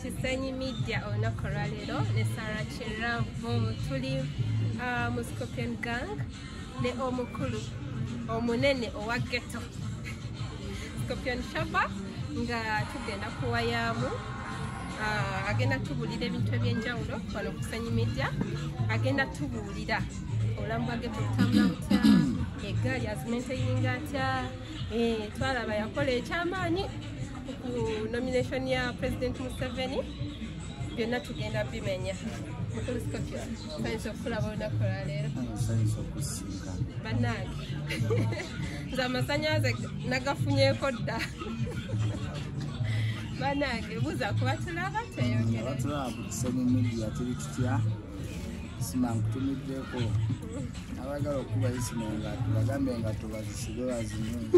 kisenyi media olunaku olwaleero ne sarah kiravu tuli uh, mu scorpion gang ne omukulu omunene owa geto scorpion shaba nga tugenda kuwayaamu uh, agenda tubuulira ebintu ebyenjawulo wano kusenyi media agenda tubuulira obulamu bwa geto butambula butya egaali azimenteyinga atya eh, twalaba yakola ekyamaanyi nomination ya president museveni byonna tugenda bimenya okulaba olunaku lwaleero banange nze amasanyalaze nagafunyeko dda banange buza kuba tulaba teyogereabatulabutusemumidiatirikitya simankutumiddeko abagala okubayisino nga tubagambe nga tubazisibe bazinyungi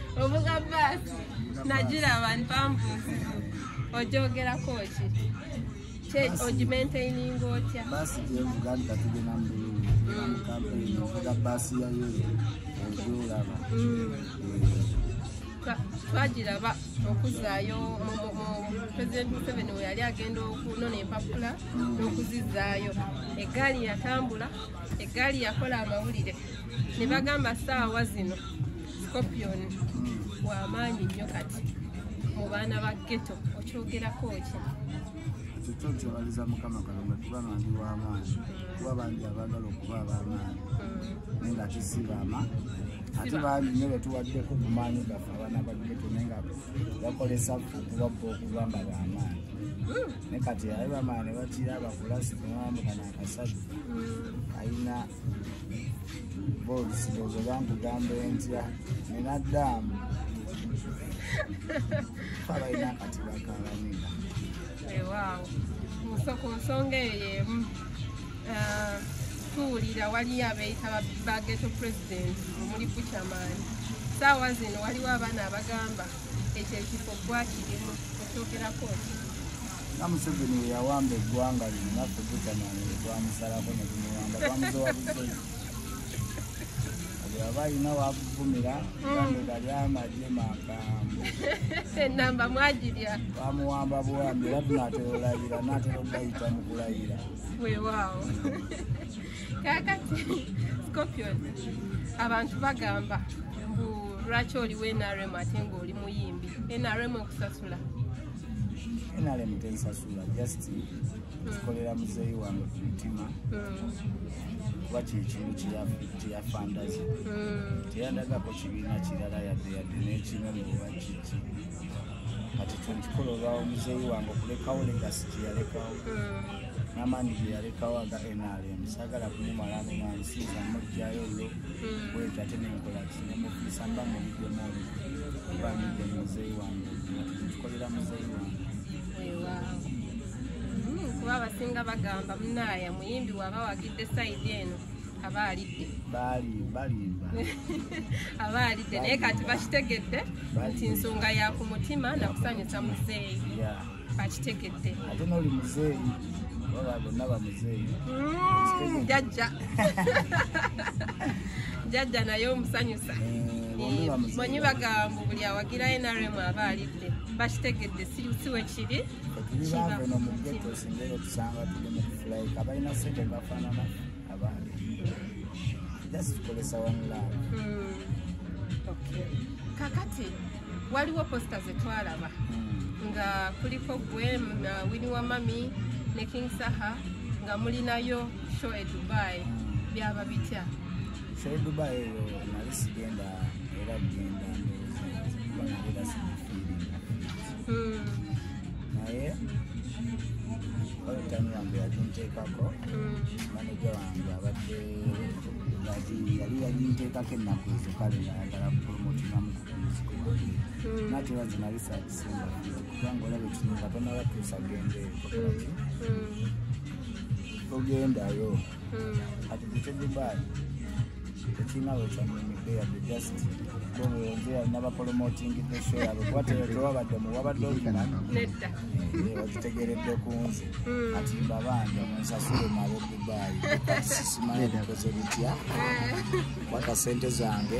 ovuga baasi nagira abantu bambuuzi ojogerako ki ogimaintaininga otya baasi gyevuga nti katugenda mubulungi mukampeyini ovuga baasi yayo ogyolaba twagira ba okuzaayo president museveni we yali agenda okunona empapula n'okuzizaayo eggaali yatambula eggaali yakola amawulire ne bagamba saawa zino scorpion wamaanyi nnyo kati mu baana ba geto okyogerako ki kyekyo nkyebaliza mukama kalonga kuba bandi wamaanyi kuba bandi abagala okuba abamaanyi naye nga kisibaama ate bandi nyo betuwaddeko ku maanyi gaffe abaana ba geto naye nga bakolesa okubabba okugamba bamaanyi hmm. ne kati aye bamaanyi bakira bakulasi kumwamukana akasajja hmm. ayina bozi bozi bankugambe ntya nina daamu abalina akati bakalamina ewaawo eh, ku nsonga eyo emu eh, tuwulira waliyo abeyita bageto president omuli bucamaani saawa zino waliwo abaana abagamba ekyo ekifo gwakirimu okyogerako nga museveni weyawamba eggwanga lino naffe gutanange twamusalako netumuwamba twamuzowa buzoyi aba alina wakuvumira gambega hmm. lyamaje magambo enamba mwagirya bamuwamba buwambi era tunatera olayira natera okubayita mu kulayira wewaawo kakati scorpion abantu bagamba mbu lwaki oliwo nrm ate ngaoli muyimbi nrm okusas nrm tensasula just kikolera muzeeyi wange ku mutima kuba kyekimu kyeyafandaza teyandagako kibiina kirala yadde yadde nekimu muba kiki kati kyenkikola olwawo muzeeyi wange okulekawo legasi kyeyalekawo namandi gyeyalekawo aga nrm sagala kumumalamu mansiiza mujjayo olwo hmm. bwetyo ate nenkola kinemufiisa mba mubidemu olwo mba mudde muzeeyi wange tukolera muzeeyi wange hmm, kuba abasinga bagamba munaaya muyimbi waba wagidde saidi eno aba alidde balimba aba alidde naye kati bakitegedde nti nsonga ya ku mutima nakusanyusa muzeeyi bakitegedde ate noli muzeeyi baba bonna bamuzeeyi mm, jajja jajja naye omusanyusa eh, eh, manyi bagambu buli awagira nrm aba alidde bakitegedde siwe kiri kakati waliwo posta zetwalaba hmm. nga kuliko gwe na wini wa mami ne king saha nga mulinayo show e dubai hmm. byaba bitya show e dubai eyo nali sigenda era genda hmm. naye olutami wange yaginteekako maneja wange abadde yali yaginteekako ennaku ezo kale ngayagala kupromotingamuku nate era zinabisa abisinga kubanga olaba ekino katona batuusa genda togendayo ati kutedubai tekirina wekyanyumidde yadde just bobeonzera nabapolomoting the show yabo kuba tewabadde muwabadde okimanyi wakitegeredde ku nze ati mbabanja munsasule male dubai kati sisimanyi bikoze bitya kwata sente zange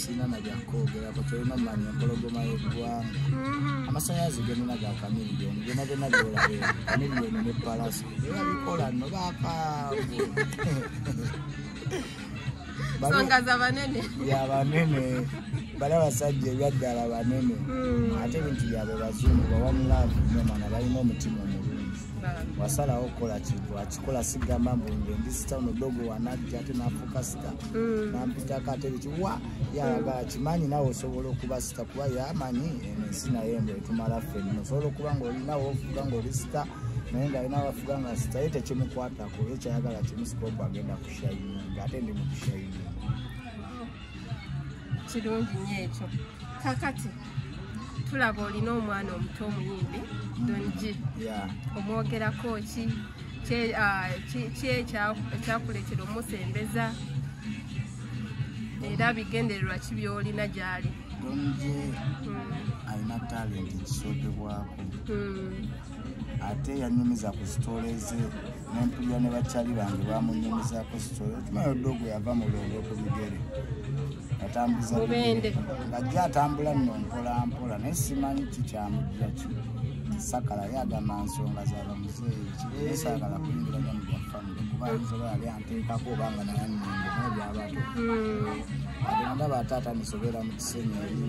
sirina na byakwogerako tolina manya empologoma y'eggwanga mm-hmm. amasanyalaze genina ga kamiliyoni byona byona byolabe kamiliyoni ne palasi era bikola no bakaavu songa za banene ya banene bali abasajja ebyaddala banene mm. ate ebintu byabwe bazungu bawamulavu nomana balina omutima omu wasalawo okukola kintu akikola sigamba mbu nge ndi sitano dogo wanajja ate nafuka nampita mm. nampita katebe kiwa yalaga kimanyi nawe osobola okuba sita kuba yamanyi ensi naye mbu etumala ffenna osobola okuba ngaolinawo ofuga ngaoli sita naye nga alina abafuga nga sita ye tekimukwatako ye kyayagala kimusikopu agenda kushayina nga ate ndi mukushayina kirungi nyo ekyo kakati tulaba olina omwana omuto omuyimbi donji omwogerako ki ekyakuleetera omusembeza era bigendererwa ki byolina gyali donji hmm. alina talenti kisookebwako hmm. ate yanyumiza ku sitole ze nempulira ne bakyali bange bamunyumizako sitole okimayo dogo yava mu lwendo ku bigere atambuza ngajja atambula nno mpolampola naye simanyi kikyamujja ki sakala yagamba nsonga zaba muzeeyi kibeere saagala kuyingiranya mu byafamire kuba ayinza oba yali anteekako oba nga naye annyingo naye byabato hmm. ate ndaba ate atanisobera mu kisenyi eri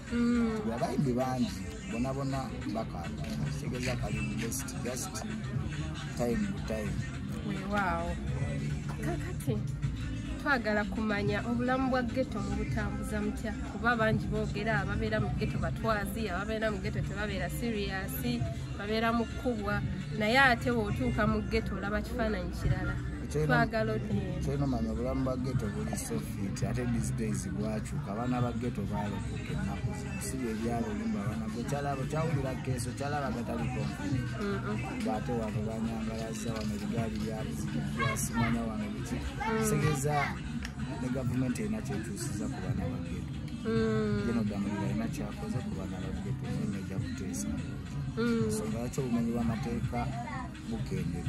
mm. abayimbi bangi bonabona bakaaga kitegeza kali best just time to time wewaawo kakati twagala kumanya obulamu bwa geto mubutambuza mutya kuba bangi boogera ababeera mu geto batwazi ababeera mu geto tebabeera siriyasi babeera mu kkubwa naye ate weotuuka mu geto olaba kifaananyi kirala twagala odiyemu kyolina omanya obulamu bwa geto buli sofit ate these days bwakyuka abaana ba geto baalokoka ennaku sibi ebyalo olimba abaana gwe kyalaba kyawulira keeso kyalaba gataliko ngaate wano banyangalaza wano ebigaali byasimanya wano biki segeza ne gavumenti erina kyetuusiza ku baana ba geto genodamulira mm. alina kyakoze ku baana ba geto nyo eja kuteesa nsonga mm. yakyo obumenyi bw'amateeka mugende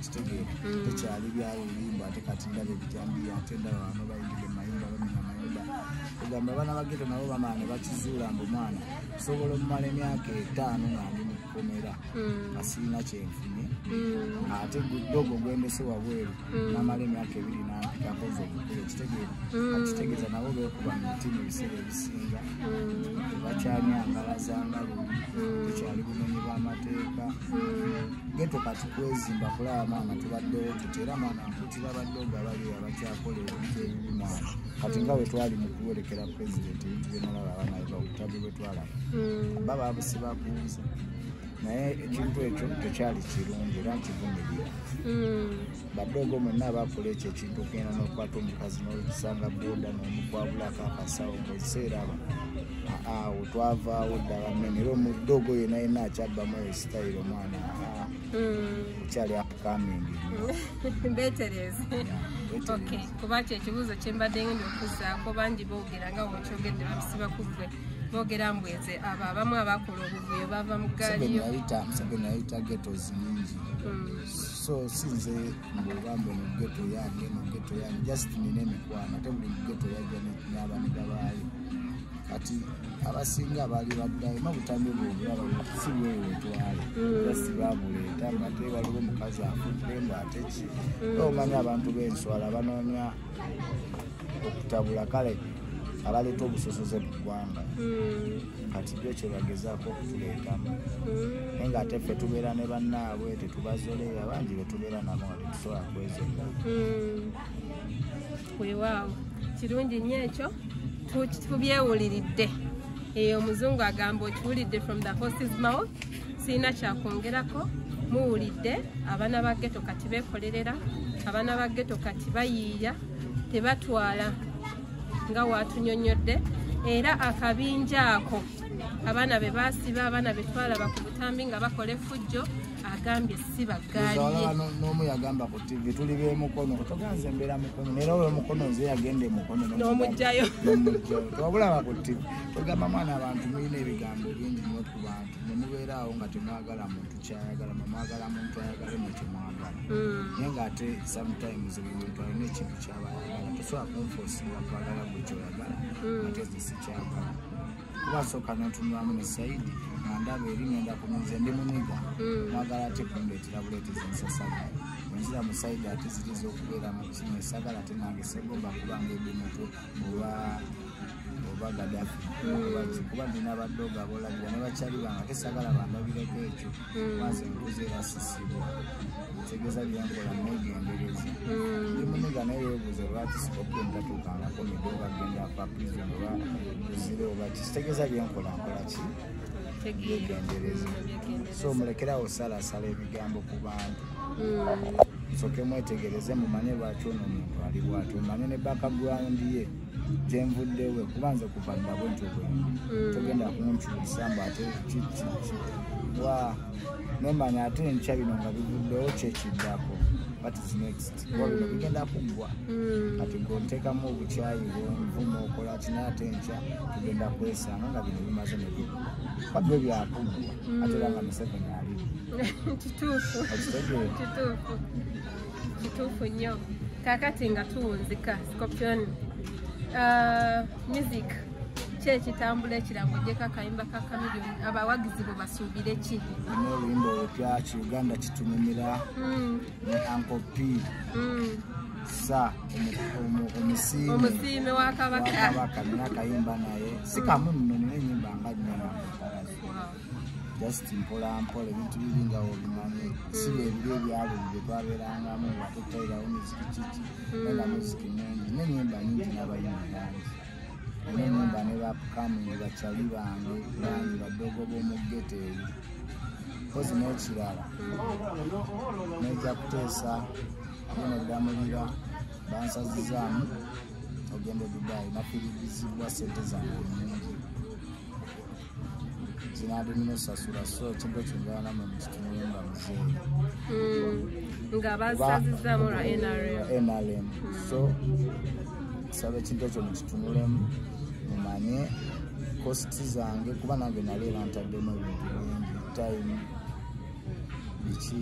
kitegeera mm. tekyali byawo biyimba ate kati ndaba ebijambiya ate ndaba bano bayingide mayumba bamina mayumba ogamba abaana bageto nabo bamala ne bakizuula mbu mwana osobola omumala emyaka etaano nga ndi mu kkomera nga mm. sirina kyenfunye mm. ate gudogo gwendese wabweru namala emyaka ebiri nampikakoze obukulu ekitegeera akitegeeza nabo bekuba mu mitimu ebiseera ebisinga tebakyanyangala zanga lumu tekyali bumenyi bw'amateeka geto kati kwezimba kulaba maama tubaddewo tuti era mwana nkuti babadde ogabali abakyakola ebintu ebibi mwana kati nga bwe twali mu kuwerekera pulezidenti ebintu byenalaba abaana eva obutabi bwe twalaba mm. ba babusibakunze naye ekintu ekyo tekyali kirungi era nkivumirira mm. badogo mwenna abakola ekyo ekintu okugenda n'okukwata omukazi n'olusanga boda n'omukwabulako akasawo mukiseera abo awo twavaawo ddala mene era omudogo yena yena akyabbamu eyo sitayiro omwana okyali hmm. upcoming betereze kuba kyo ekibuuzo kyembadde ngenda okuzaako bangi boogera nga wekyogedde babisiba ku ggwe boogera mbweze abo abamu abakola obuvuyo bava mu gaaliyo so sinze mbuba mbu mugeto yange mugeto yange just nina emikwano ate buli mugeto yajja nabaniga baayo kati abasinga baali baddayo ma butambi bwobulaba si bweyo wetwale mm. just babuleeta ngate waliwo omukazi afudde mbu ate ki mm. omanya abantu b'enswala banoonya okutabula kale abaleeta obusosoze mu ggwanga hmm. kati byo kyebagezaako okutuleetamu hmm. naye ngaate ffe tubeera ne bannaabwe tetubazoleera bangi betubeera nabo nga tetusobola kwezolera hmm. wewaawo kirungi nnyo ekyo tubyewuliridde eyo omuzungu agamba okiwulidde from the horses mouth sirina kyakwongerako muwulidde abaana ba geto kati bekolerera abaana ba geto kati bayiiya tebatwala nga watunyonyodde era akabinja ako abaana be basiba abaana betwalaba ku butambi nga bakola efujjo agambye si bagaliyenoomu yagamba ku tv tuli bemukono toganze mbeera mukono nera olwo mukono nze yagenda emukono nomugjayo tobulaba ku tv togamba mwana abantu mulina ebigambo bingi nokubanga ne mubeera awo nga temwagala muntu kyayagala mwemwagala muntu ayagale mwe kyemwagala mm. naye ngaate sometimes buli muntu alina ekintu kyaba ayagala tosobola kunfosinga kwagala gwe kyoyagala mm. ate ze sikyagala kuba sooka notunulamu ne saidi nga ndaba eri ngenda kumunze ndi muniga mm. mwagala ate kundeetera buleetezi nsasala wenzira mu saidi ate ziriza okubeera mu kimu esagala ate nange segomba kubanga ebimutu oba oba gadafi hmm. kuba ndina abaddoga abolabira ne bakyali bange ate sagala bandabireko ekyo hmm. maze nkuze erasisibwa ntegeeza byenkola negendereza hmm. ndi muniga naye webuuza lwaki sikopi ntatuukangako midoga genda pa prison oba ozire oba ki kitegeeza byenkola nkola ki yegendereza so mulekerawo salasala ebigambo ku bantu soke mwetegereze mumanye lwaki ono omuntu ali bwati omanye ne bakagrawundi ye gyenvuddewe kuba nze kuva nabo nti obwendi mm. togenda kunkyusa mbu ate kiki wa nemanya ate enkya bino nga bivuddewo kyekiddako mm. bigenda kuggwa mm. kati gontekamu obukyayi bwenvuma okola kina ate enkya tugenda kwesanga nga bino bimaze nebigwa kabyo byakuggwa ate era nga museveni ali kituufu kituufu nnyo kakati nga tuwunzika scorpion uh, music ki ekitambula ekirango gyeko akayimba ka kamilion abawagizi bwe basuubire ki olina oluyimba olupya ki uganda kitunumira hmm. ne ankopi hmm. sa omusiime wa kabaka nina akayimba naye si kamu nno nina enyimba nga nyama just mpola mpola ebintu biri nga obimanyi si hmm. ebiri ebyalo bye twabeerangamu nga tutairawo miziki kiki neba muziki mungi nenyimba nyingi nabayimbi bangi nenyimba ne bapukami bacali bange bangi badogo b'omuggete eyo mpozi n'ekirala nejja kuteesa neneddamulira bansazizaamu ogenda edubayi nafiridizibwa sente zange nyingi kinali munosasula so kintu kingana mu kitunumba mzee mm. nga basazizamu lwa nrm nrm so nsaba ekintu ekyo mukitunulemu mumanye kosti zange kuba nange nali era ntaddemu ebintu bingi time biki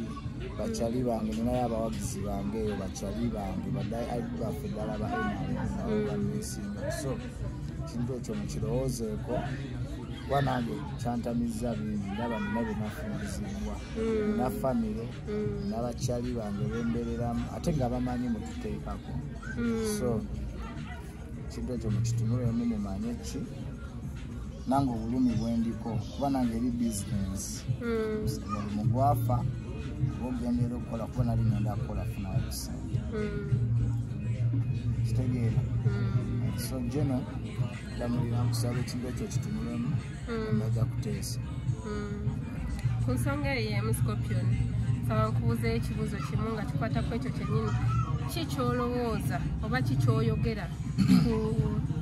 bakyali bange ninayo abawagizi bange eyo bakyali bange baffe ddala baenabanesinga mm. so ekintu ekyo mukirowoozeeko kuba nange kyantamizza bingi ndaba nina byenafunizibwa mm. na famire mm. nabakyali bange bembereramu ate nga bamanyi mututeekako so ekintu ekyo mukitunulemu mumanye ki nange obulumi bwendiko kuba nange eri bizinesi hmm. omulimu gwafa oba ogendera okukola kuba nali ngenda kukola funayo kusente hmm. kitegeera hmm. so geno damulira nkusaba ekintu ekyo kitunulemu mm. baja kuteesa mm. ku nsonga eyo yemu scorpion saba nkubuuza ekibuuzo kimu nga kikwata ku ekyo kyenyini ki kyolowooza oba ki kyoyogera ku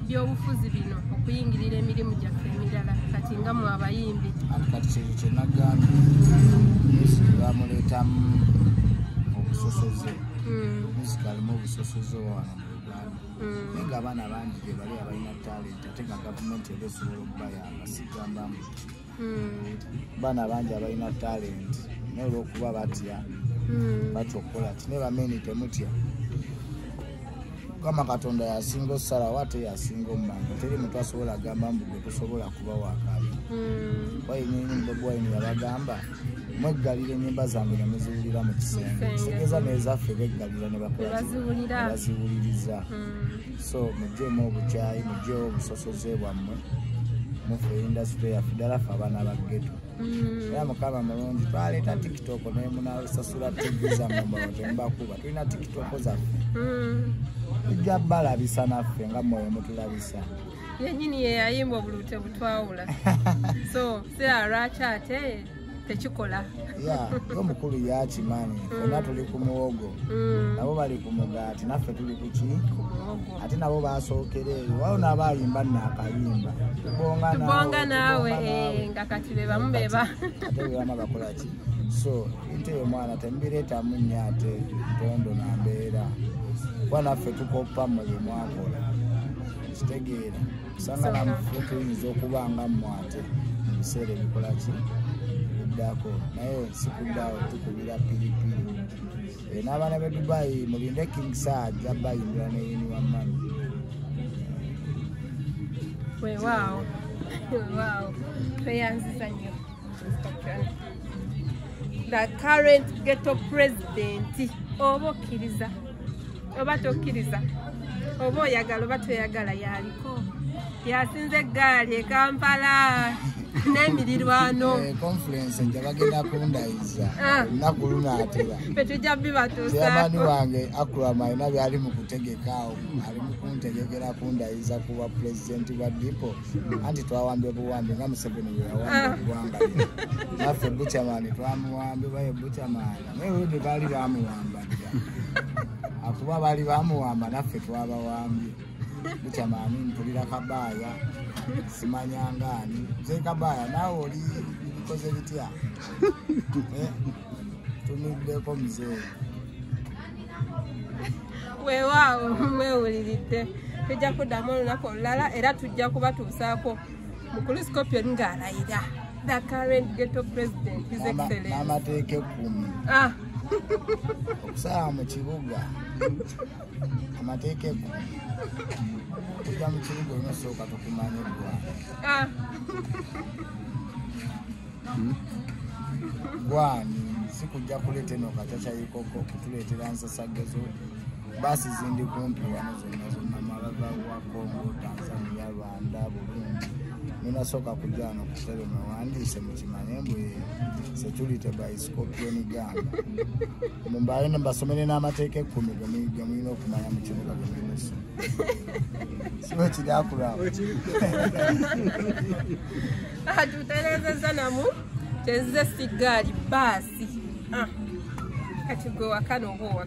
byobufuzi bino okuyingirira emirimu gyaffe emirala kati nga mu abayimbi anti kati kyekyo kyenagambye musiki bamuleetamu obusosoze musiki mm. alimu obusosoze wano mu uganda mm. naye nga abaana bangi gyebali abalina talenti ate nga gavumenti eba esobola okubayamba sigambamu mm. baana bangi abalina talenti naye olwokuba batya mm. batya okukola ki naye bameni temutya mukama katonda yasinga osalawo ate yasinga omumanga teri muntu asobola agamba mbu gwe tosobola kuba wakali wayini mbogwayini yabagamba mweggalira enyimba zange ne muziwulira mu kisenge kitegeza nezaffe beggalira ne baziwuliriza hmm. so mujjemu obukyayi mujjewo obusosoze bwammwe mufe indasitule yaffe ddala fe abaana ba geto hmm. era mukama mulungi twaleeta tiktok naye munasasula tivi zammwe mbawa temubakuba tulina tiktok zaffe hmm. tujja balabisa naffe nga mwoyo mutulabisa yenyini yeyayimba obulute butwawula so sira lwaki ate tekikola omukulu yakimanyi mm. ona tuli ku muwogo mm. nabo bali ku mugaati naffe tuli kuki ate nabo basookera eyo waona abayimba nakayimba tubonga naawe eh, nga kati bebamu beba ate bebama bakolaki so inte yo mwana temubireetamu nyo ate ntondo nambeera kuba naffe tukoppa muli mwakola kitegeera sangala mufuuka eyinza okuba nga mmwate mu biseera ebikola ki kuddako naye sikuddaawo tukubira piripiri eh, n'abaana be dubayi mulinde king saad zabayindira neyini wamani wewaawo wewaawo tweyanziza nnyo the current ghetto president oba okkiriza oba tokkiriza oba oyagala oba toyagala yaliko yasinze eggaali e kampala n'emirirwano eh, conference nja bagenda kundayiza ah. ennaku lunaatera fetujja bibatusaani wange akram alina byali mu kutegekaawo ali mu kuntegekera kundayiza ku bwa pulezidenti bwa dipo anti twawambye obuwambi nga museveni bweyawambye ah. ogwanga naffe buchamani twamuwambye baye buchamani Newede baali bamuwamba dda akuba baali bamuwamba naffe twabawambye bukya maami mpulira kabaaya simanyangaani ze kabaaya naawe oli bikoze bitya eh, tumiddeko muzee weewaawo mwewuliridde tujja kuddamu olunaku olulala era tujja kubatuusaako mukulu scorpion ng'alayira the current ghetto president his excellence n'amateeka ekkumi ah. okusala mu kibuga amateeka ekkumi ojja mu kibuga olina osooka tukumanya eggwanga ah. gwani si kujja kuleeta eno katakyayikoko kutuleetera nsasagezo baasi zindi kumpi wano zonna zonna mabava wa kongo tanzania anda bulungi ninasooka kujja wano ku tebe mwewandiise mukimanye mbu security by scorpion gamba mumbaale ne mbasomere n'amateeka ekkumi ge mulina okumanya mu kibuga ge mulimusu siba kiri akulaba ah, tutereezezza namu kyezze siggaali baasi ah, kati gwe wakana oba